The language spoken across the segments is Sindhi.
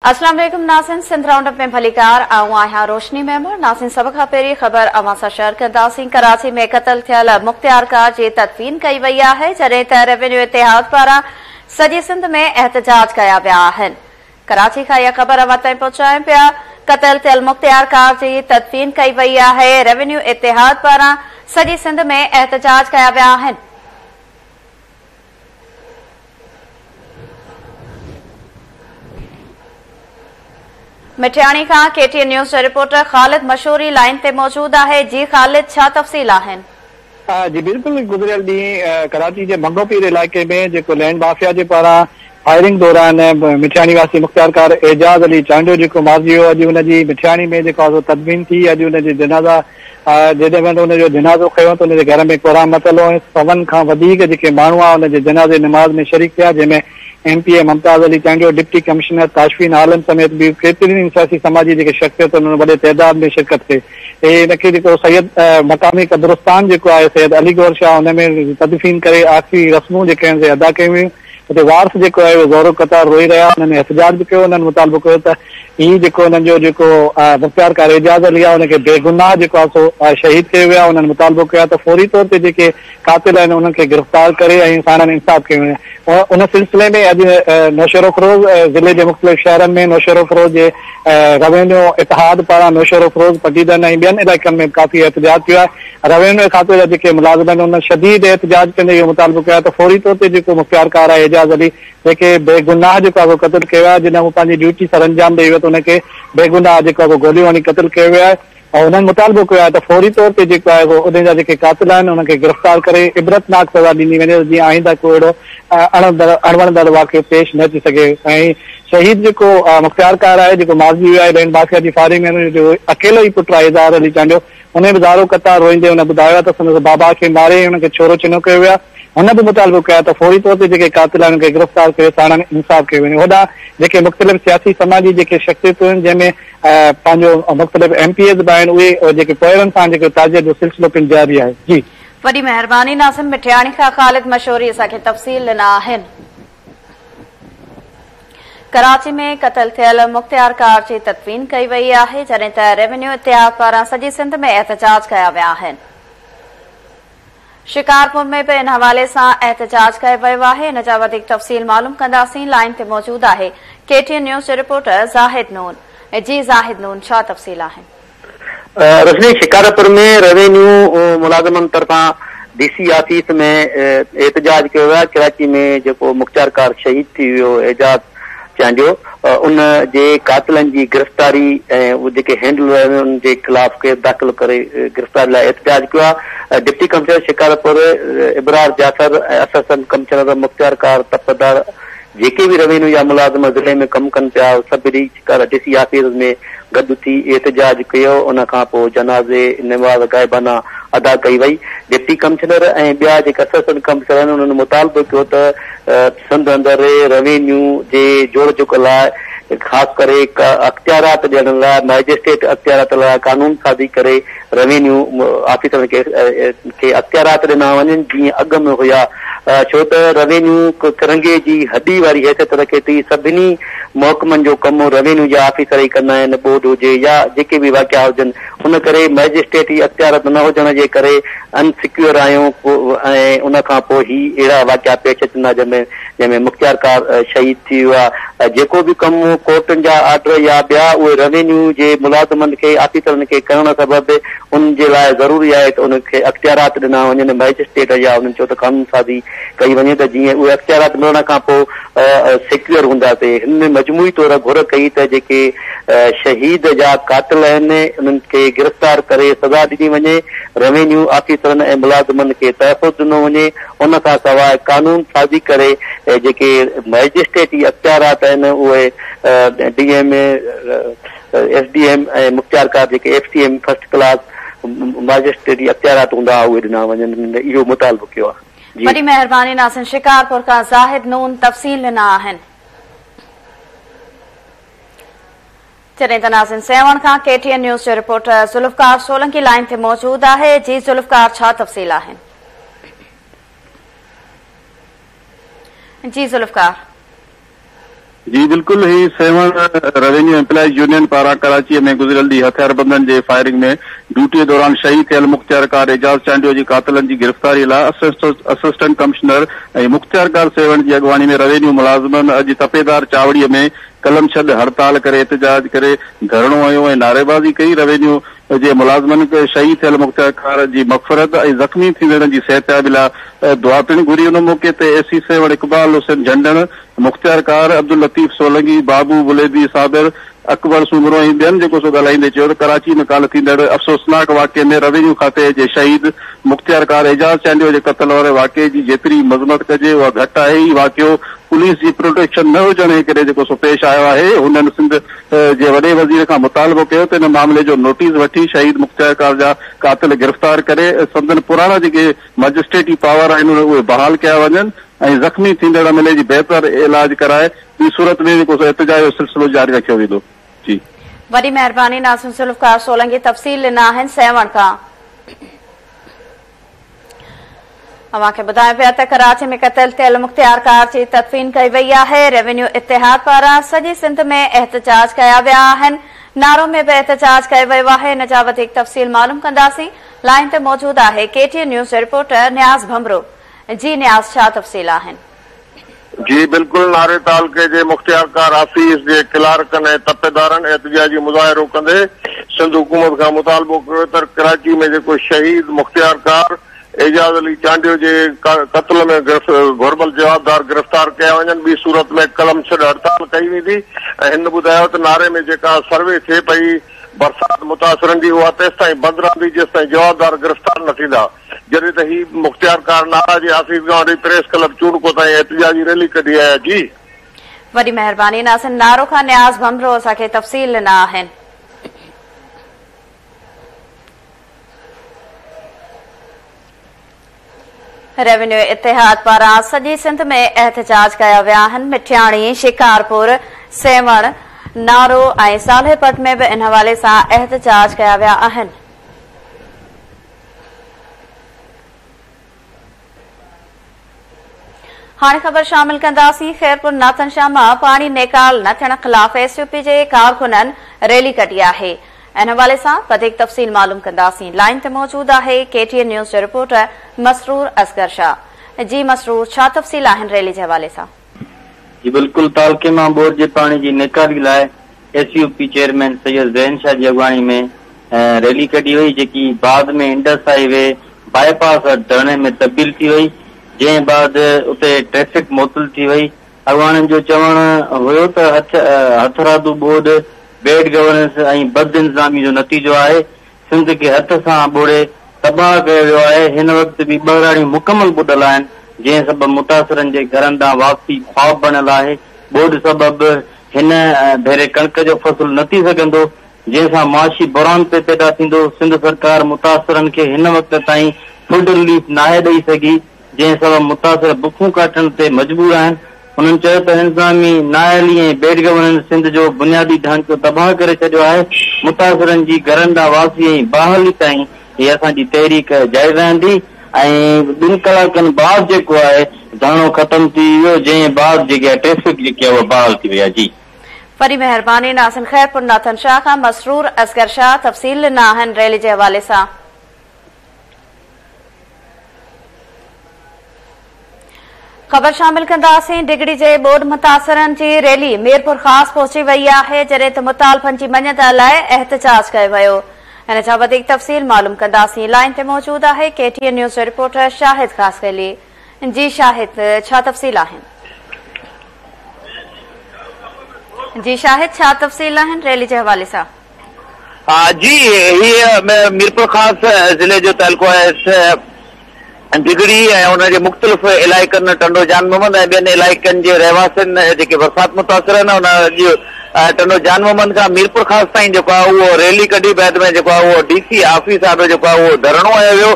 اسلام عليڪم ناظرين سنڌ رائونڊ اپ ۾ ڀليڪار آئون آهيان روشني ميمڻ ناظرين سڀ کان پهرين خبر اوهان سان شيئر ڪنداسين ڪراچي ۾ قتل ٿيل مختيار ڪار جي تدفين ڪئي وئي آهي جڏهن ته ريونيو اتحاد پاران سڄي سنڌ ۾ احتجاج ڪيا ويا آهن ڪراچي کان اها خبر اوهان تائين پهچايون پيا قتل ٿيل مختيار ڪار جي تدفين ڪئي وئي آهي ريونيو اتحاد پاران سڄي سنڌ ۾ احتجاج ڪيا ويا آهن. مٺياڻي کان ڪي ٽي اين نيوز جو رپورٽر خالد مشوري لائين تي موجود آهي جي خالد ڇا تفصيل آهن. جي بلڪل گذريل ڏينهن ڪراچي جي ڀنگو پير علائقي ۾ جيڪو لينڊ مافيا جي پاران فائرنگ دوران مٺياڻي واسي مختيارڪار اعجاز علي چانڊيو جيڪو مارجي ويو اڄ ان جي مٺياڻي ۾ جيڪو آزو تدفين ٿي اڄ ان جي جنازا جڏهن وڃي ان جو جنازو کنيو ته ان جي گهر ۾ ڪورام متل هو ۽ سون کان وڌيڪ جيڪي ماڻهو آيا ان جي جنازي نماز ۾ شريڪ ٿيا جنهن ۾ M P A Mumtaz Ali Chandio, deputy commissioner Tashfeen Alam سميت ٻيون ڪيترين ئي سياسي سماجي جيڪي شخصيتن ان وڏي تعداد ۾ شرڪت ڪئي ۽ ان کي جيڪو سيد مقامي قبرستان جيڪو آهي سيد علي گور شاهه ان ۾ تدفين ڪري آخري رسمون جيڪي آهن سي ادا ڪيون ويون. اتي وارث جيڪو آهي اهي زورو قطار روئي رهيا انهن ۾ احتجاج به ڪيو انهن مطالبو ڪيو ته هي جيڪو انهن جو جيڪو مختيار ڪار اعجاز علي آهي ان کي بيگناهه جيڪو آهي سو شهيد ڪيو ويو آهي انهن مطالبو ڪيو آهي ته فوري طور تي جيڪي قاتل آهن انهن کي گرفتار ڪري ۽ ساڻن انصاف ڪيو وڃي ان سلسلي ۾ اڄ نوشهروفروز ضلعي جي مختلف شهرن ۾ نوشهروفروز جي روينيو اتحاد پاران نوشهروفروز پٽيدن ۽ ٻين علائقن ۾ به ڪافي احتجاج ٿيو آهي روينوي کاتي جا جيڪي ملازم آهن انهن شديد احتجاج ڪندي اهو مطالبو ڪيو آهي ته فوري طور تي جيڪو مختيارڪار آهي اعجاز علي جنهن کي بيگناهه جيڪو آهي سو قتل ڪيو ويو آهي جڏهن هو پنهنجي ڊيوٽي سرانجام ڏئي ويو ته ان کي بيگناهه جيڪو آهي سو گوليون هڻي قتل ڪيو ويو آهي ۽ انهن مطالبو ڪيو آهي ته فوري طور تي جيڪو آهي سو انهن جا جيڪي قاتل آهن انهن کي گرفتار ڪري عبرتناڪ سزا ڏني وڃي ته جيئن آئنده ڪو اهڙو اڻوڻندڙ واقعو پيش نه اچي سگهي ۽ شهيد جيڪو مختيارڪار آهي جيڪو مارجي ويو آهي لينڊ مافيا جي فائرنگ ۾ هن جو اڪيلو ئي پٽ آهي اظهار علي چانڊيو انهيء به زارو قطار روئيندي هن ٻڌايو ته سندس بابا کي ماري هن کي ڇورو چنو ڪيو ويو آهي. هن به مطالبو ڪيو آهي ته فوري طور تي جيڪي قاتل آهن انهن کي گرفتار ڪري ساڻن انصاف ڪيو وڃي. هوڏانهن جيڪي مختلف سياسي سماجي جيڪي شخصيتون آهن جنهن ۾ پنهنجو مختلف ايم پي ايز به آهن اهي جيڪي پوئرن سان جيڪو تعزيت جو سلسلو پڻ جاري آهي. جي. وڏي مهرباني ناظم مٺياڻي کان خالد مشوري اسان کي تفصيل ڏنا آهن. ڪراچي ۾ قتل ٿيل مختيار ڪار جي تدفين ڪئي وئي آهي جڏهن ته ريونيو اتحاد پاران سڄي سنڌ ۾ احتجاج ڪيا ويا آهن. شڪارپور ۾ به ان حوالي سان احتجاج ڪيو ويو آهي ان جا وڌيڪ تفصيل معلوم ڪنداسين لائين تي موجود آهي ڪي ٽي اين نيوز جو رپورٽر زاهد نون. جي زاهد نون ڇا تفصيل آهن. رسني شڪارپور ۾ روينيو ملازمن طرفان ڊي سي آفيس ۾ احتجاج ڪيو ويو آهي، ڪراچي ۾ جيڪو مختيارڪار شهيد ٿي ويو اعجاز چانڊيو ان جي قاتلن جي گرفتاري ۽ جيڪي هينڊلر آهن انهن جي خلاف ڪيس داخل ڪري گرفتاري لاء احتجاج ڪيو آهي، deputy commissioner Shikarpur Abrar Jafar ۽ assistant commissioner مختيارڪار تپدار جيڪي به روينيو يا ملازم ضلعي ۾ ڪم ڪن پيا سڀ ريچ ڪر ڊي سي آفيس ۾ گڏ ٿي احتجاج ڪيو ان کان پوء جنازي نماز غائبانه ادا ڪئي وئي ڊپٽي ڪمشنر ۽ ٻيا جيڪي اسسٽنٽ ڪمشنر آهن انهن مطالبو ڪيو ته سنڌ اندر روينيو جي جوڙ جڪ لاء خاص ڪري اختيارات ڏيڻ لاء مئجسٽريٽ اختيارات لاء قانون سازي ڪري روينيو آفيسرن کي اختيارات ڏنا وڃن جيئن اڳ ۾ هيا ڇو ته روينيو ڪرنگهي جي هڏي واري حيثيت رکي ٿي، سڀني محڪمن جو ڪم روينيو جا آفيسر ئي ڪندا آهن ٻوڏ هجي يا جيڪي به واقعا هجن ان ڪري مئجسٽريٽ جي اختيارات نه هجڻ جي ڪري ان سيڪيور آهيون ۽ ان کان پوء هي اهڙا واقعا پيش اچن ٿا جنهن ۾ جنهن ۾ مختيار ڪار شهيد ٿي ويو آهي، جيڪو به ڪم ڪورٽن جا آرڊر يا ٻيا اهي روينيو جي ملازمن کي آفيسرن کي ڪرڻ سبب انهن جي لاء ضروري آهي ته انهن کي اختيارات ڏنا وڃن مئجسٽريٽ يا انهن چيو ته قانون سازي ڪئي وڃي ته جيئن اهي اختيارات ملڻ کان پوء سيڪيور هوندا سي هن ۾ مجموعي طور گهر ڪئي ته جيڪي شهيد جا قاتل آهن انهن کي گرفتار ڪري سزا ڏني وڃي روينيو آفيسرن ۽ ملازمن کي تحفظ ڏنو وڃي ان کان سواء قانون سازي ڪري جيڪي مئجسٽريٽي اختيارات آهن اهي D M A, S D M ۽ مختيارڪار جيڪي F C M first class مئجسٽريٽي اختيارات هوندا ها اهي ڏنا وڃن اهو مطالبو ڪيو آهي. جي. وڏي مهرباني ناصر شڪارپور کان زاهد نون تفصيل ڏنا آهن. جڏهن ته ناظم سيوهڻ کان ڪي ٽي اين نيوز جو رپورٽر ذوالفقار سولنگي لائين تي موجود آهي جي ذوالفقار ڇا تفصيل آهن جي ذوالفقار. جي بلڪل هي سيوهڻ روينيو ايمپلائيز يونين پاران ڪراچي ۾ گذريل ڏينهن هٿياربندن جي فائرنگ ۾ ڊيوٽي دوران شهيد ٿيل مختيارڪار اعجاز چانڊيو جي قاتلن جي گرفتاري لاء اسسٽنٽ ڪمشنر ۽ مختيارڪار سيوهڻ جي اڳواڻي ۾ روينيو ملازمن اڄ تپيدار چاوڙي ۾ قلم ڇڏ، هڙتال ڪري، احتجاج ڪري، ڌرڻو هنيو ۽ نعريبازي ڪئي، روينيو جي ملازمن شهيد ٿيل مختيارڪار جي مغفرت ۽ زخمي ٿيندڙن جي صحتيابي لاء دعا پڻ گهري، ان موقعي تي اي سي سيوهڻ اقبال حسين جهنڊڻ، مختيارڪار، عبداللطيف سولنگي، بابو بليدي صابر، اڪبر سومرو ۽ ٻين جيڪو سو ڳالهائيندي چيو ته ڪراچي ۾ ڪالهه ٿيندڙ افسوسناڪ واقعي ۾ روينيو کاتي جي شهيد مختيارڪار اعجاز چانڊيو جي قتل واري واقعي جي جيتري مذمت ڪجي اها گهٽ آهي، هي واقعو پوليس جي پروٽيڪشن نه هجڻ جي ڪري جيڪو سو پيش آيو آهي، هنن سنڌ جي وڏي وزير کان مطالبو ڪيو ته ان معاملي جو نوٽيس وٺي شهيد مختيار ڪار جا قاتل گرفتار ڪري سندن پراڻا جيڪي مئجسٽريٽي پاور آهن اهي بحال ڪيا وڃن ۽ زخمي ٿيندڙ ايم ايل اي جي بهتر علاج ڪرائي ٻي صورت ۾ جيڪو سو احتجاج جو سلسلو جاري رکيو ويندو جي. وڏي مهرباني ناصر ذوالفقار سولنگي تفصيل ڏنا آهن سيوهڻ کان. اوهان کي ٻڌايون پيا ته ڪراچي ۾ قتل ٿيل مختيارڪار جي تدفين ڪئي وئي آهي، ريونيو اتحاد پاران سڄي سنڌ ۾ احتجاج ڪيا ويا آهن، نارو ۾ به احتجاج ڪيو ويو آهي، ان جا وڌيڪ تفصيل معلوم ڪنداسين، لائين تي موجود آهي ڪي ٽي اين نيوز جي رپورٽر نياز ڀنڀرو، جي نياز ڇا تفصيل آهن. جي بلڪل ناري تعلقي جي مختيارڪار آفيس جي ڪلارڪن ۽ تپيدارن احتجاجي مظاهرو ڪندي سنڌ حڪومت کان مطالبو ڪيو تر ڪراچي ۾ جيڪو شهيد مختيارڪار اعجاز علي چانڊيو جي قتل ۾ گهربل جوابدار گرفتار ڪيا وڃن ٻي صورت ۾ قلم ڇڏ هڙتال ڪئي ويندي ۽ هن ٻڌايو ته ناري ۾ جيڪا سروي ٿئي پئي برسات متاثرن جي اها تيستائين بند رهندي جيستائين جوابدار گرفتار نه ٿيندا. جڏهن ته هي مختيارڪار نارا جي آفيس کان وٺي پريس ڪلب چونڊڪو تائين احتجاجي ريلي ڪڍي آيا جي. وڏي مهرباني ناصر نارو کان نياز ڀنڀرو اسان کي تفصيل ڏنا آهن. ريونيو اتحاد پاران سڄي سنڌ ۾ احتجاج ڪيا ويا آهن مٺياڻي شڪارپور سيوهڻ نارو ۽ صالح پٽ ۾ به ان حوالي سان احتجاج ڪيا ويا آهن. هاڻي خبر شامل ڪنداسين خيرپور ناٿن شاهه مان پاڻي نيڪال نه ٿيڻ خلاف ايس يو پي جي ڪارڪنن ريلي ڪڍي آهي ان حوالي سان وڌيڪ تفصيل معلوم ڪنداسين لائن تي موجود آهي ڪي ٽي اين نيوز جو رپورٽر مسرور اصغر شاهه جي مسرور ڇا تفصيل آهن ريلي جي حوالي سان جي بلڪل تعلقي مان ٻوڏ جي پاڻي جي نيڪالي لاء S U P chairman Syed Zaheen Shah جي اڳواڻي ۾ ريلي ڪڍي وئي جيڪي بعد ۾ Indus highway bypass وٽ ڌرڻي ۾ تبديل ٿي وئي جنهن بعد اتي ٽريفڪ معطل ٿي وئي اڳواڻن جو چوڻ هيو ته هٿرادو ٻوڏ بيڊ گورننس ۽ بد انتظامي جو نتيجو آهي سنڌ کي هٿ سان ٻوڙي تباهه ڪيو ويو آهي، هن وقت به ٻهراڙيون مڪمل ٻڏل آهن، جنهن سبب متاثرن جي گهرن ڏانهن واپسي خواب بڻيل آهي، ٻوڏ سبب هن ڀيري ڪڻڪ جو فصل نه ٿي سگهندو، جنهن سان معاشي بحران پئي پيدا ٿيندو، سنڌ سرڪار متاثرن کي هن وقت تائين فوڊ رليف ناهي ڏئي سگهي. جنهن سبب متاثر بکون ڪاٽڻ تي مجبور آهن، هنن چيو ته انتظامي نااهلي ۽ بيڊ گورننس سنڌ جو بنيادي ڍانچو تباهه ڪري ڇڏيو آهي، متاثرن جي گهرن ڏانهن واپسي ۽ بحالي تائين هي اسان جي تحريڪ جاري رهندي ۽ ٻن ڪلاڪن بعد جيڪو آهي ڌرڻو ختم ٿي ويو جنهن بعد جيڪي آهي ٽريفڪ جيڪي آهي اها بحال ٿي وئي آهي جي. وڏي مهرباني ناصر خيرپور ناٿن شاهه کان مسرور اصغر شاهه تفصيل ڏنا آهن ريلي جي حوالي سان. خبر شامل ڪنداسين ڊگهڙي جي ٻوڏ متاثرن جي ريلي ميرپورخاص پهچي وئي آهي جڏهن ته مطالبن جي مڃتا لاء احتجاج ڪيو ويو ان جا وڌيڪ تفصيل معلوم ڪنداسين لائين تي موجود آهي ڪي ٽي اين نيوز جو رپورٽر شاهد خاصخيلي جي شاهد ڇا تفصيل آهن جي شاهد ڇا تفصيل آهن ريلي جي حوالي سان جي هي ميرپور خاص ضلعي جو تعلقو آهي ڊگهڙي ۽ ان جي مختلف علائقن ٽنڊو جان محمد ۽ ٻين علائقن جي رهواسين جيڪي برسات متاثر آهن ان اڄ ٽنڊو جان محمد کان ميرپور خاص تائين جيڪو آهي اهو ريلي ڪڍي بعد ۾ جيڪو آهي اهو ڊي سي آفيس آڏو جيڪو آهي اهو ڌرڻو هنيو ويو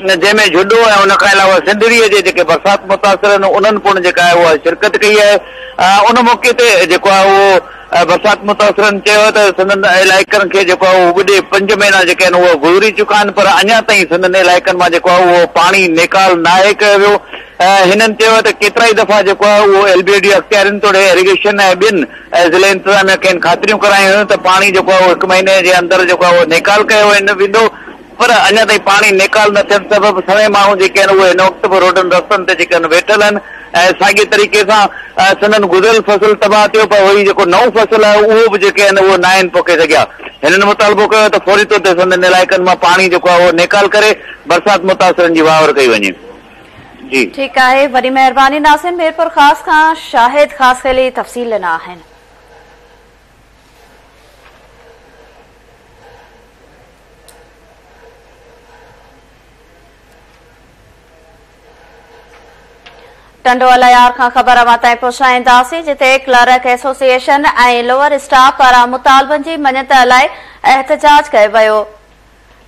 جنهن ۾ جهڏو ۽ ان کان علاوه سنڌڙي جي جيڪي برسات متاثر آهن انهن پڻ جيڪا آهي اها شرڪت ڪئي آهي ان موقعي تي جيڪو آهي اهو برسات متاثرن چيو آهي ته سندن علائقن کي جيڪو آهي اهو ٻڏي پنج مهينا جيڪي آهن اهي گذري چڪا آهن پر اڃا تائين سندن علائقن مان جيڪو آهي اهو پاڻي نيڪال ناهي ڪيو ويو. هنن چيو آهي ته ڪيترائي دفعا جيڪو آهي اهو ايل بي ڊي اختيارين توڙي ايريگيشن ۽ ٻين ضلعي انتظاميا کين خاطريون ڪرايون هيون ته پاڻي جيڪو آهي اهو هڪ مهيني جي اندر جيڪو آهي اهو نيڪال ڪيو ويندو. پر اڃا تائين پاڻي نيڪال نه ٿيڻ سبب سوين ماڻهو جيڪي آهن اهي هن وقت به روڊن رستن تي جيڪي آهن ويٺل آهن ۽ ساڳي طريقي سان سندن گذريل فصل تباهه ٿيو پر وري جيڪو نئون فصل آهي اهو به جيڪي آهن اهو ناهن پوکي سگهيا هنن مطالبو ڪيو ته فوري طور تي سندن علائقن مان پاڻي جيڪو آهي اهو نيڪال ڪري برسات متاثرن جي واهور ڪئي وڃي جي ٺيڪ آهي وڏي مهرباني ناظرين ميرپور خاص کان شاهد خاص خيل جي تفصيل ڏنا آهن ٽنڊو الهيار کان خبر اوهان تائين پهچائينداسين جتي ڪلرڪ ايسوسيئيشن ۽ لوئر اسٽاف پاران مطالبن جي مڃت لاء احتجاج ڪيو ويو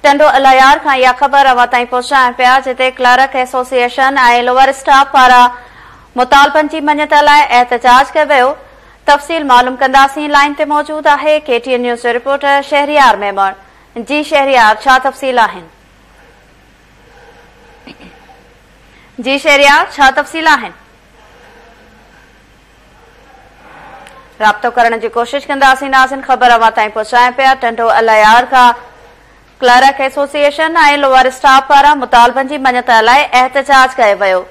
ٽنڊو الهيار کان اها خبر اوهان تائين پهچائين پيا جتي ڪلرڪ ايسوسيئيشن ۽ لوئر اسٽاف پاران مطالبن جي مڃت لاء احتجاج ڪيو ويو تفصيل معلوم ڪنداسين لائين تي موجود آهي ڪي ٽي اين نيوز جو رپورٽر شهريار ميمڻ جي شهريار ڇا تفصيل آهن جي شهريار ڇا تفصيل آهن رابطو ڪرڻ جي ڪوشش ڪنداسين ناظرين خبر اوهان تائين پهچائين پيا ٽنڊو الايار کان ڪلرڪ ايسوسيئيشن ۽ لوور اسٽاف پاران مطالبن جي مڃت لاء احتجاج ڪيو ويو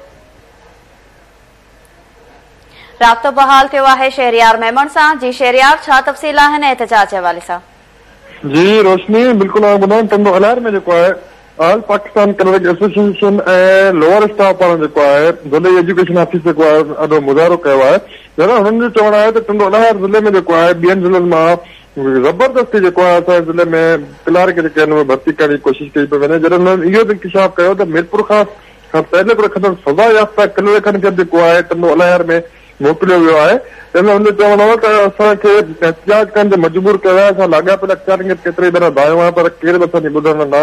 رابطو بحال ٿيو آهي شهريار ميمڻ سان، جي شهريار ڇا تفصيل آهن ۽ احتجاج جي حوالي سان. جي روشني بلڪل آئون ٻڌان ٽنڊو الهيار ۾ جيڪو آهي all Pakistan clerk association ۽ lower staff پاران جيڪو آهي ضلعي ايجوڪيشن آفيس جيڪو آهي ان آڏو مظاهرو ڪيو آهي جڏهن هنن جو چوڻ آهي ته ٽنڊو الهيار ضلعي ۾ جيڪو آهي ٻين ضلعن مان زبردستي جيڪو آهي اسان جي ضلعي ۾ ڪلارڪ جيڪي آهن اهي ڀرتي ڪرڻ جي ڪوشش ڪئي پئي وڃي جڏهن هنن اهو به انڪشاف ڪيو ته ميرپورخاص کان پهرين پڻ کسن سزا يافته ڪلرڪن کي به ڪوهائي ٽنڊو الهيار ۾ موڪليو ويو آهي، جنهن ۾ هن جو چوڻ هو ته اسان کي احتجاج ڪرڻ تي مجبور ڪيو ويو آهي، اسان لاڳاپيل اختيارين کي به ڪيترائي ڀيرا ڌايو آهي پر ڪير به اسان جي ٻڌڻ نه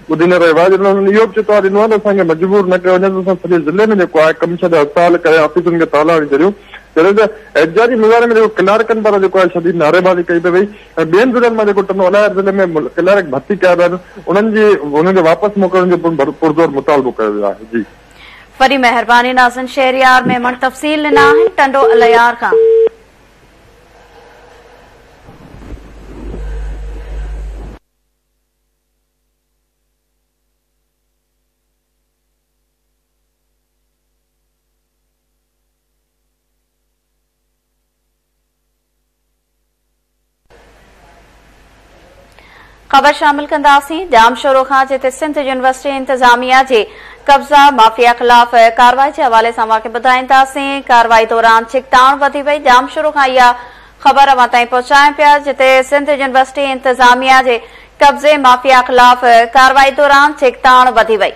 ٻڌي نه رهيو آهي، جڏهن هنن اهو به چتاء ڏنو آهي ته اسان کي مجبور نه ڪيو وڃي ته اسان سڄي ضلعي ۾ جيڪو آهي ڪم ڇڏي هڙتال ڪري آفيسن کي تالا هڻي ڇڏيون، جڏهن ته احتجاجي مظاهري ۾ جيڪو ڪلارڪن پاران جيڪو آهي شديد نعريبازي ڪئي پئي وئي. پر ٻين ضلعن مان جيڪو ٽنڊو الايار ضلعي ۾ ڪلارڪ ڀرتي ڪيا ويا آهن انهن جي انهن جي واپس موڪلڻ جو پڻ پرزور مطالبو ڪيو ويو آهي جي. وڏي مهرباني ناظرين شهريار ميمڻ تفصيل ڏنا آهن ٽنڊو الايار کان. خبر شامل ڪنداسين ڄام شورو کان جتي سنڌ يونيورسٽي انتظاميا جي قبضا مافيا خلاف ڪاروائي جي حوالي سان اوهان کي ٻڌائينداسين ڪاروائي دوران ڇڪتاڻ وڌي وئي ڄام شورو کان اها خبر اوهان تائين پهچايون پيا جتي سنڌ يونيورسٽي انتظاميا جي قبضي مافيا خلاف ڪاروائي دوران ڇڪتاڻ وڌي وئي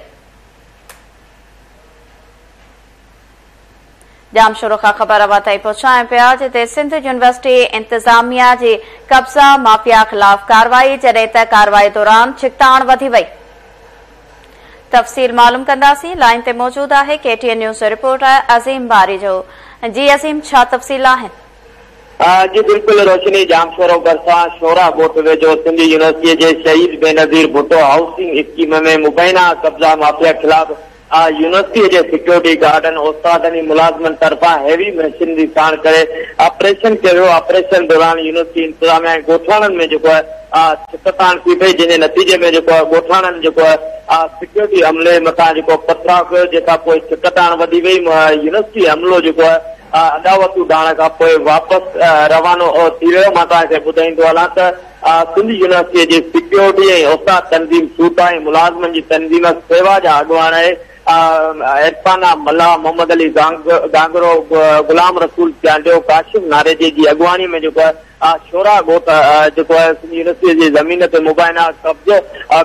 ڄام شورو کان خبر اوهان تائين پهچايون پيا جتي سنڌ يونيورسٽي انتظاميا جي قبضا مافيا خلاف ڪارروائي جڏهن ته ڪارروائي دوران ڇڪتاڻ وڌي وئي تفصيل معلوم ڪنداسين لائين تي موجود آهي ڪي ٽي اين نيوز جو رپورٽر عظيم باري جو جي عظيم ڇا تفصيل آهن جي بلڪل روشني ڄام شورو ڀرسان شورا ڳوٺ ويجهو سنڌ يونيورسٽي جي شهيد بينظير ڀٽو هائوسنگ اسڪيم ۾ مبينا قبضا مافيا خلاف آء يونيورسٽيء جي سيڪيورٽي گارڊن، استادن ۽ ملازمن طرفان هيوي مشينري ساڻ ڪري آپريشن ڪيو ويو. آپريشن دوران يونيورسٽي انتظاميه ۽ ڳوٺاڻن ۾ جيڪو آء ڇڪتاڻ ٿي پئي، جنهن جي نتيجي ۾ جيڪو آء ڳوٺاڻن جيڪو آء سيڪيورٽي عملي مٿان جيڪو پٿراء ڪيو، جنهن کان پوء ڇڪتاڻ وڌي وئي. يونيورسٽي عملو جيڪو آء اڏاوتون ڊاهڻ کان پوء واپس روانو ٿي ويو. مان توهان کي ٻڌائيندو هلان ته. آء سنڌ يونيورسٽيء جي سيڪيورٽي ۽ اوقاف تنظيم سوٽا ۽ ملازمن جي تنظيم سيوا جا اڳواڻ اهي. آء عرفانه، ملاح محمد علي گانگرو، غلام رسول چانڊيو، ڪاشف ناريجي جي اڳواڻيء ۾ جيڪو آء شورا ڳوٺ جيڪو آء سنڌ يونيورسٽيء جي زمين تي مبينا قبضو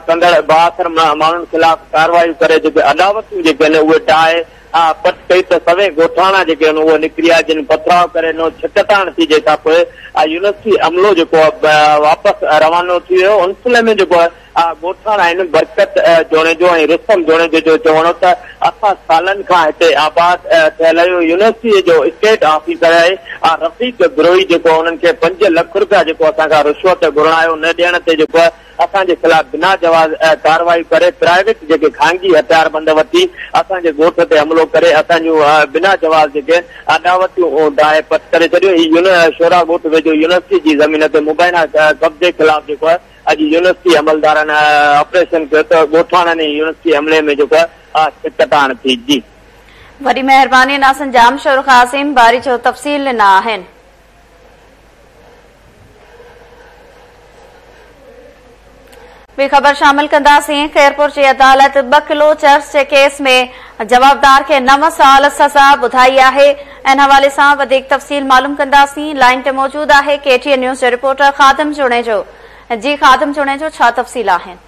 ڪندڙ بااثر ماڻهن خلاف ڪارروايون ڪري جيڪي اڏاوتون جيڪي آهن اهي ڊاهي آء پٽ ڪئي ته سوين ڳوٺاڻا جيڪي هن اهي نڪريا جن پٿراء ڪري نو ڇڪتاڻ ٿي جنهن کان پوء آء يونيورسٽي عملو جيڪو آء واپس روانو ٿي ويو ان سلهي ۾ جيڪو آء ڳوٺاڻا آهن برڪت جوڻيجو ۽ رستم جوڻيجي جو چوڻ هو ته اسان سالن کان هتي آباد ٿيل آهيون يونيورسٽي جو اسٽيٽ آفيسر آهي آء رفيق بروهي جيڪو انهن کي پنج لک روپيا جيڪو اسان کان رشوت گهرڻ آيو نه ڏيڻ تي جيڪو اسان جي خلاف بنا جواز ڪارروائيون ڪري پرائيويٽ جيڪي خانگي هٿياربند وٺي اسان جي ڳوٺ تي حملو ڪري اسان جون بنا جواز جيڪي اڏاوتيون ڊاهي پٽ ڪري ڇڏيون هي يون شورا ڳوٺ ويجهو يونيورسٽي جي زمين تي مبينا قبضي خلاف جيڪو اڄ يونيورسٽي عملدارن آپريشن ڪيو ته ڳوٺاڻن هي يونيورسٽي حملي ۾ جيڪو ڪٽاڻ ٿي جي. وڏي مهرباني ناصن جام شور خاصين باري جو تفصيل ڏنا آهن. ٻي خبر شامل ڪنداسين خيرپور جي عدالت ٻه ڪلو چرس جي ڪيس ۾ جوابدار کي نو سال سزا ٻڌائي آهي ان حوالي سان وڌيڪ تفصيل معلوم ڪنداسين لائن تي موجود آهي ڪي ٽي اين نيوز جو رپورٽر خادم جوڻيجو جي خادم جوڻيجو ڇا تفصيل آهن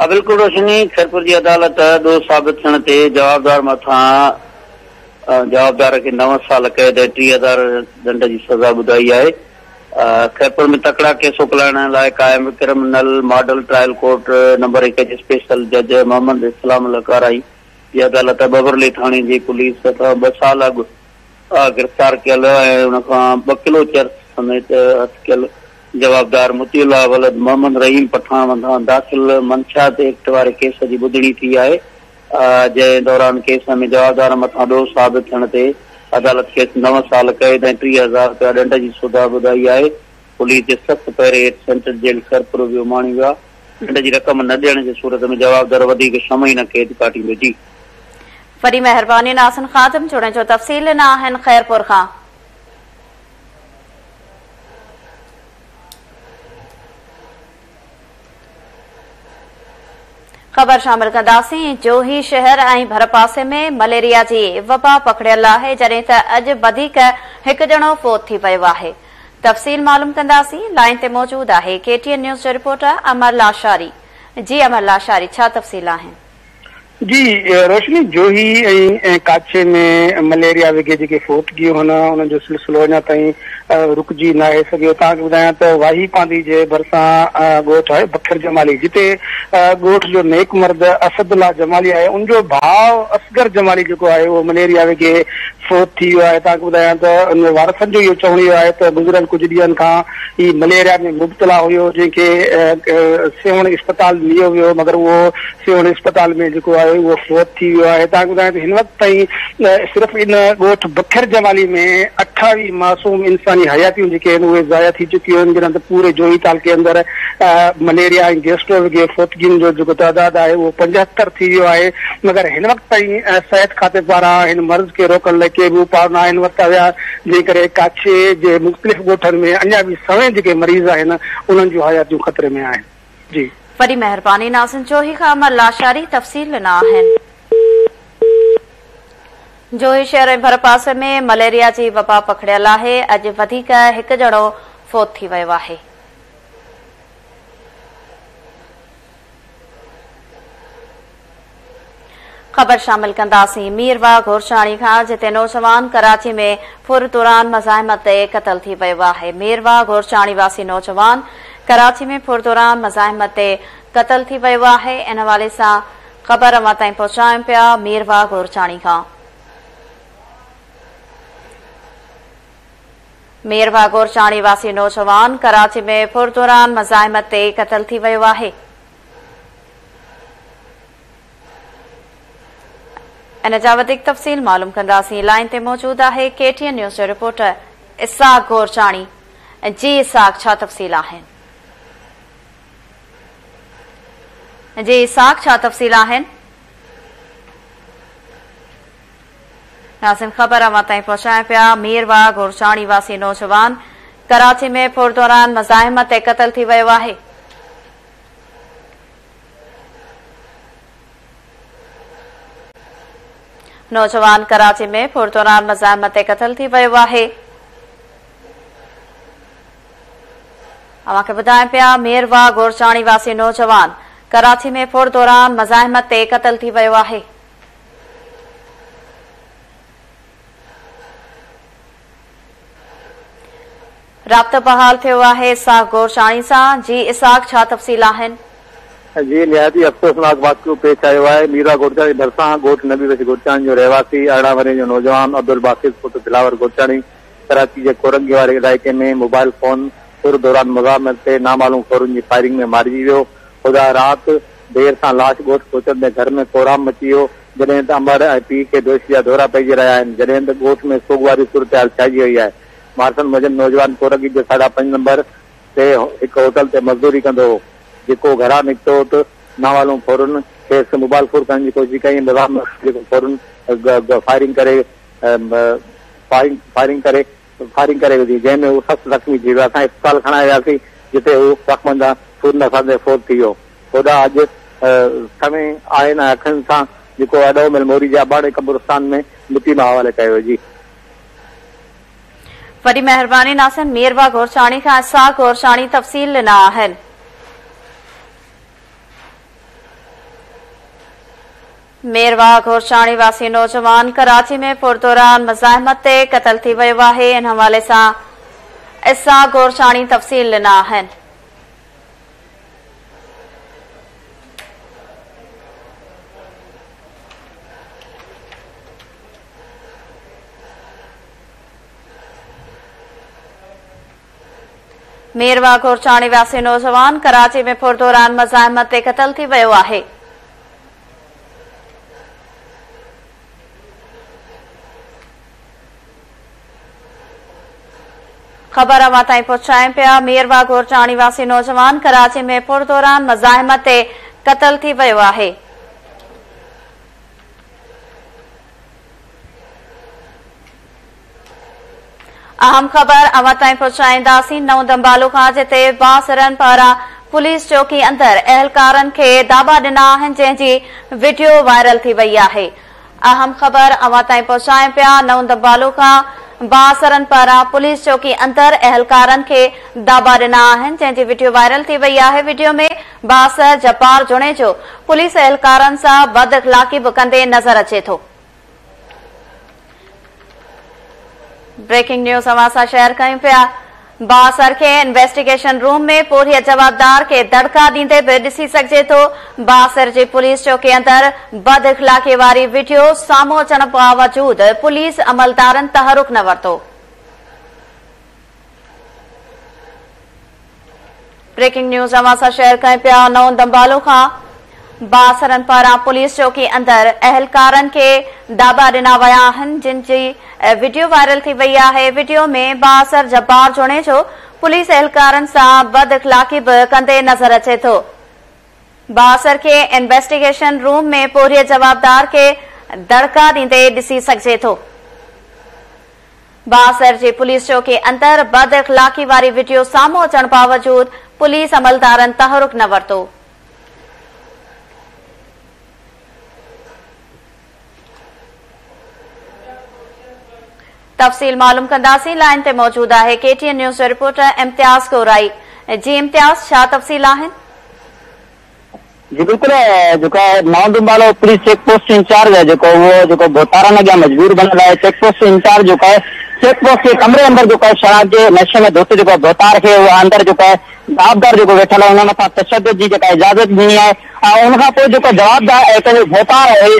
بلڪل روشني، خيرپور جي عدالت ڏوهه ثابت ٿيڻ تي جوابدار مٿان جوابدار کي نو سال قيد ۽ ٽيهه هزار ڊنڊ جي سزا ٻڌائي آهي، خيرپور ۾ تڪڙا ڪيس اوڪلائڻ لاء قائم criminal model trial court number هڪ جي اسپيشل جج محمد اسلام لڪارائي جي عدالت ٻهبرلي ٿاڻي جي پوليس هٿان ٻه سال اڳ گرفتار ڪيل ۽ ان کان ٻه ڪلو چرس سميت هٿ ڪيل جوابدار مطيع الله ولد محمد رحيم پٺاڻ مٿان داخل منشيات ايڪٽ واري ڪيس جي ٻڌڻي ٿي آهي، جنهن دوران ڪيس ۾ جوابدارن مٿان ڏوهه ثابت ٿيڻ تي عدالت کيس نو سال قيد ۽ ٽيهه هزار رپيا ڏنڊ جي سزا ٻڌائي آهي، پوليس جي سخت پهري هيٺ سينٽرل جيل خيرپور به اماڻي ويو آهي، ڏنڊ جي رقم نه ڏيڻ جي صورت ۾ جوابدار وڌيڪ ڇهه مهينا قيد ڪاٽيندو جي. وڏي مهرباني ناصن خادم جوڻي جو تفصيل ڏنا آهن خيرپور کان خبر شامل ڪنداسين جو هي شهر ۽ ڀر پاسي ۾ مليريا جي وبا پکڙيل آهي جڏهن ته اڄ وڌيڪ هڪ ڄڻو فوت ٿي ويو آهي تفصيل معلوم ڪنداسين لائن تي موجود آهي ڪي ٽي اين نيوز جو رپورٽر امر لاشاري جي امر لاشاري ڇا تفصيل آهن جي روشني جوهي ۽ ڪاڇي ۾ مليريا وگهي جيڪي فوت ڪيون هن انهن جو سلسلو اڃا تائين رڪجي ناهي سگهيو توهان کي ٻڌايان ته واهي پانڌي جي ڀرسان ڳوٺ آهي بکر جمالي جتي ڳوٺ جو نيڪ مرد اسد الله جمالي آهي ان جو ڀاء اصغر جمالي جيڪو آهي اهو مليريا وگهي فوت ٿي ويو آهي توهان کي ٻڌايان ته ان وارثن جو اهو چوڻ اهو آهي ته گذريل ڪجهه ڏينهن کان هي مليريا ۾ مبتلا هيو جنهن کي سيوهڻ اسپتال نيو ويو مگر اهو سيوهڻ اسپتال ۾ جيڪو آهي اهو فوت ٿي ويو آهي تان ٻڌايان ته هن وقت تائين صرف ان ڳوٺ بکر جمالي ۾ اٺاويهه معصوم انساني حياتيون جيڪي آهن اهي ضايع ٿي چڪيون آهن جڏهن ته پوري جوهي تعلقي اندر مليريا ۽ گيسٽرو وگي فوتگين جو جيڪو تعداد آهي اهو پنجهتر ٿي ويو آهي مگر هن وقت تائين صحت کاتي پاران هن مرض کي روڪڻ لاء ڪي به اپاء ناهن ورتا ويا جنهن ڪري ڪاڇي جي مختلف ڳوٺن ۾ اڃا به سوين جيڪي مريض آهن انهن جون حياتيون خطري ۾ آهن جي. وڏي مهرباني ناظم جوهي کان امر لاشاري تفصيل ڏنا آهن. جوهي شهر ۽ ڀرپاسي ۾ مليريا جي وبا پکڙيل آهي اڄ وڌيڪ هڪ ڄڻو فوت ٿي ويو آهي. خبر شامل ڪنداسين مير واهه گورچاڻي کان جتي نوجوان ڪراچي ۾ ڦر دوران مزاحمت تي قتل ٿي ويو آهي مير واهه گورچاڻي واسي نوجوان ڪراچي ۾ ڦر دوران مزاحمت تي قتل ٿي ويو آهي ان حوالي سان خبر اوهان تائين پهچايون پيا مير واهه گورچاڻي کان مير ڀاڳور چاڻي واسي نوجوان ڪراچي ۾ ڦر دوران مزاحمت تي قتل ٿي ويو آهي. ان جا وڌيڪ تفصيل معلوم ڪنداسين لائين تي موجود آهي ڪي ٽي اين نيوز جو رپورٽر اسحاق گورچاڻي جي اسحاق ڇا تفصيل آهن جي اسحاق ڇا تفصيل آهن ناظرين خبر اوهان تائين پهچايون پيا مير واهه گورچاڻي واسي نوجوان ڪراچي ۾ ڦر دوران مزاحمت تي قتل ٿي ويو آهي. نوجوان ڪراچي ۾ ڦر دوران مزاحمت تي قتل ٿي ويو آهي. اوهان کي ٻڌايون پيا مير واهه گورچاڻي واسي نوجوان ڪراچي ۾ ڦر دوران مزاحمت تي قتل ٿي ويو آهي. رابطو بحال ٿيو آهي اسحاق گورچاڻي سان، جي اسحاق ڇا تفصيل آهن؟ جي نهايت ئي افسوسناڪ واقعو پيش آيو آهي، ميرا گورچاڻي ڀرسان ڳوٺ نبي بخش گورچاڻي جو رهواسي ارڙهن ورهين جو نوجوان عبدالباسط پٽ دلاور گورچاڻي ڪراچي جي ڪورنگي واري علائقي ۾ موبائل فون ڦر دوران مزاحمت تي نامعلوم ڦرن جي فائرنگ ۾ مارجي ويو، خدا رات. دير سان لاش ڳوٺ پهچندي گهر ۾ ڪورام مچي ويو، جڏهن ته امڙ ۽ پيء کي بيهوشي جا دورا پئجي رهيا آهن، جڏهن ته ڳوٺ ۾ سوڳواري صورتحال ڇائجي وئي آهي. مارسن موجب نوجوان ڪورڳي جي ساڍا پنج نمبر تي هڪ هوٽل تي مزدوري ڪندو هو، جيڪو گهران نڪتو هو ته ناوالون ڦورن کيس موبال ڦور ڪرڻ جي ڪوشش ڪئي ۽ بظاهر نوجوان جيڪو ڦورن فائرنگ ڪري فائرنگ ڪري فائرنگ ڪري وڌي جنهن ۾ هو سخت زخمي ٿي ويو اسان اسپتال کڻائي وياسين جتي هو زخمن سان سون نساندي فوت ٿي ويو هوڏا اڄ سوين آهن ۽ اکن سان جيڪو اڏو مل موري جي اباڻي قبرستان ۾ مٽي مان حوالي ڪيو ويو جي. وڏي مهرباني ناصر ميربا گورچاڻي کان اسحاق گورچاڻي تفصيل ڏنا آهن. ميرواهه گورچاڻي واسي نوجوان ڪراچي ۾ پر دوران مزاحمت تي قتل ٿي ويو آهي ان حوالي سان اسحاق گورچاڻي تفصيل ڏنا آهن. ميرواهه گورچاڻي واسي نوجوان ڪراچي ۾ پر دوران مزاحمت تي قتل ٿي ويو آهي. خبر اوهان تائين پهچايون پيا مير واگهور جاڻي واسي نوجوان ڪراچي ۾ پور دوران مزاحمت تي قتل ٿي ويو آهي اهم خبر اوهان تائين پهچائينداسين نئون دمبالو کان جتي بااثرن پاران پوليس چوڪي اندر اهلڪارن کي داٻا ڏنا آهن جنهن جي وڊيو وائرل ٿي وئي آهي اهم خبر اوهان تائين پهچائين پيا نئون دمبالو کان بااثرن پاران پوليس چوڪي اندر اهلڪارن کي داٻا ڏنا آهن جنهن جي وڊيو وائرل ٿي وئي آهي وڊيو ۾ بااثر جبار جوڻيجو پوليس اهلڪارن سان بد اخلاقي به ڪندي نظر اچي ٿو بريڪنگ نيوز اوهان سان شيئر ڪيون پيا بااثر کي انويسٽيگيشن روم ۾ پورهيت جوابدار کي دڙڪا ڏيندي به ڏسي سگهجي ٿو بااثر جي پوليس چوڪي اندر بد اخلاقي واري ويڊيو سامهون اچڻ باوجود پوليس عملدارن تحرڪ نه ورتو بريڪنگ نيوز اوهان سان شيئر ڪرين پيا نئون دمبالو کان بااثرن پاران پوليس چوڪي اندر اهلڪارن کي داٻا ڏنا ويا آهن جن جي وڊيو وائرل ٿي وئي آهي وڊيو ۾ بااثر جبار جوڻيجو پوليس اهلڪارن سان بد اخلاقي به ڪندي نظر اچي ٿو بااثر کي انويسٽيگيشن روم ۾ پورهيت جوابدار کي دڙڪا ڏيندي ڏسي سگهجي ٿو. بااثر جي پوليس چوڪي اندر بد اخلاقي واري وڊيو سامهون اچڻ باوجود پوليس عملدارن تحرڪ نه ورتو. تفصيل معلوم ڪنداسين لائين تي موجود آهي ڪي ٽي اين نيوز جو رپورٽر امتياز گورائي جي امتياز ڇا تفصيل آهن. جي بلڪل جيڪا نئون Dambalo police check post incharge آهي جيڪو اهو جيڪو ڀوتارن اڳيان مجبور بنيل آهي چيڪ پوسٽ انچارج جيڪو آهي چيڪ پوسٽ جي ڪمري اندر جيڪو آهي شراب جي نشي ۾ ڌت جيڪو ڀوتار کي اهو اندر جيڪو آهي جوابدار جيڪو ويٺل آهي ان مٿان تشدد جي جيڪا اجازت ڏني آهي ۽ ان کان پوء جيڪو جوابدار اهي پنهنجو ڀوتار آهي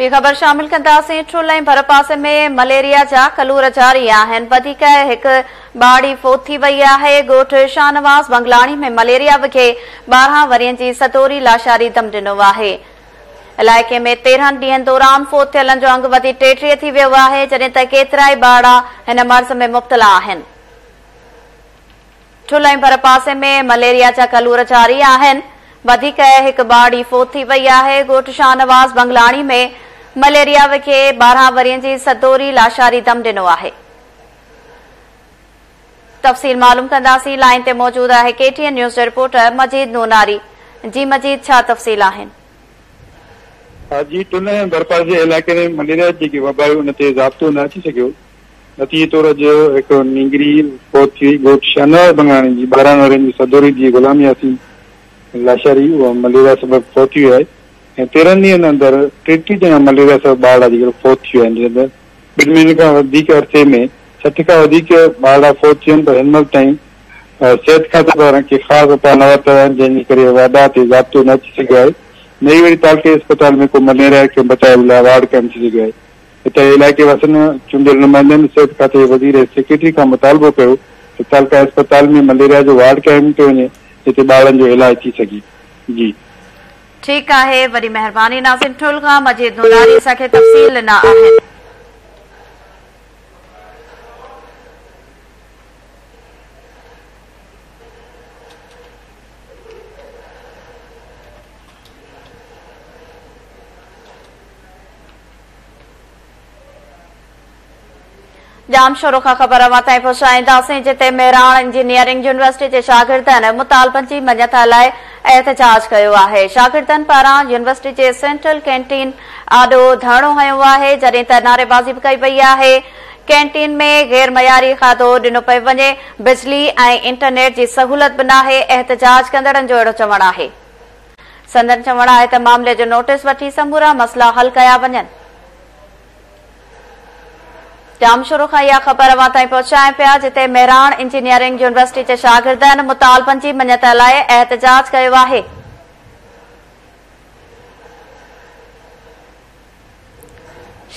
ٻي خبر شامل ڪنداسين ٺل ۽ ڀرپاسي ۾ مليريا جا ڪلور جاري آهن وڌيڪ هڪ ٻارڙي فوت ٿي وئي آهي ڳوٺ شاهنواز بنگلاڻي ۾ مليريا وگهي ٻارهن ورهين جي سدوري لاشاري دم ڏنو آهي علائقي ۾ تيرهن ڏينهن دوران فوت ٿيلن جو انگ وڌي ٽيٽيهه ٿي ويو آهي جڏهن ته ڪيترائي ٻارڙا هن مرض ۾ مبتلا آهن ٺل ۽ ڀرپاسي ۾ مليريا جا ڪلور جاري آهن، وڌيڪ هڪ ٻارڙي فوت ٿي وئي آهي، ڳوٺ شاهنواز بنگلاڻي ۾ مليريا وکي ٻارهن ورهين جي سدوري لاشاري دم ڏنو آهي. تفصيل معلوم ڪنداسين، لائين تي موجود آهي ڪي ٽي اين نيوز جي رپورٽر مجيد نوناري، جي مجيد ڇا تفصيل آهن؟ جي ٺل ۽ ڀرپاسي علائقي ۾ مليريا جي جيڪي وبا آهي ان تي ضابطو نه اچي سگهيو، نتيجي طور اڄ هڪ نينگري فوت ٿي وئي. ڳوٺ شاهنواز بنگاڻي جي ٻارهن ورهين جي سدوري ڌيء غلام ياسين لاشاري اها مليريا سبب فوت ٿي وئي آهي ۽ تيرهن ڏينهن اندر ٽيٽيهه ڄڻا مليريا سبب ٻارڙا جي ڪري فوت ٿي ويا آهن جنهن اندر ٻن مهينن کان وڌيڪ عرصي ۾ سٺ کان وڌيڪ ٻارڙا فوت ٿي ويا آهن پر هن مهل تائين صحت کاتي پاران ڪي خاص اپاء نه ورتا ويا آهن جنهن جي ڪري وبا تي ضابطو نه اچي سگهيو آهي نه ئي وري تعلقي اسپتال ۾ ڪو مليريا کي بچائڻ جي لاء وارڊ قائم ٿي سگهيو آهي. اتي علائقي واسين چونڊيل نمائندن صحت کاتي جي وزير ۽ سيڪريٽري کان مطالبو ڪيو ته تعلقه اسپتال ۾ مليريا جو وارڊ قائم ڪيو وڃي جتي ٻارڙن جو علاج ٿي سگهي جي. ٺيڪ آهي وڏي مهرباني ناظم ٺل کان مجيد نوراري اسان کي تفصيل ڏنا آهن. ڄام شورو کان خبر اوهان تائين پهچائينداسين جتي مهراڻ انجنيئرنگ يونيورسٽي جي شاگردن مطالبن جي مڃتا لاء احتجاج ڪيو آهي شاگردن پاران يونيورسٽي جي سينٽرل ڪينٽين آڏو ڌرڻو هنيو آهي جڏهن ته نعريبازي به ڪئي وئي آهي ڪينٽين ۾ غير معياري کاڌو ڏنو پيو وڃي بجلي ۽ انٽرنيٽ جي سهولت به ناهي احتجاج ڪندڙن جو اهڙو چوڻ آهي سندن چوڻ آهي ته معاملي جو نوٽيس وٺي سمورا مسئلا حل ڪيا وڃن. جام شروع کان اها خبر اوهان تائين پهچائين پيا جتي مهراڻ انجنيئرنگ يونيورسٽي جي شاگردن مطالبن جي مڃتا لاء احتجاج ڪيو آهي.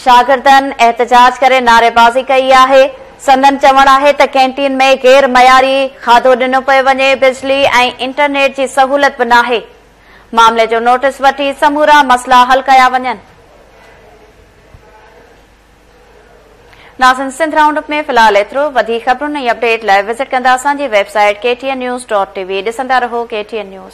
شاگردن احتجاج ڪري نعريبازي ڪئي آهي، سندن چوڻ آهي ته ڪينٽين ۾ غير معياري کاڌو ڏنو پيو وڃي، بجلي ۽ انٽرنيٽ جي سهولت به ناهي، معاملي جو نوٽيس وٺي سمورا مسئلا حل ڪيا وڃن. ناظرين سنڌ رائونڊ اپ ۾ في الحال ايترو، وڌيڪ خبرن ۽ اپڊيٽ لاء وزٽ ڪندا اسان جي website K T N news dot T V ڏسندا رهو ڪي ٽي اين نيوز.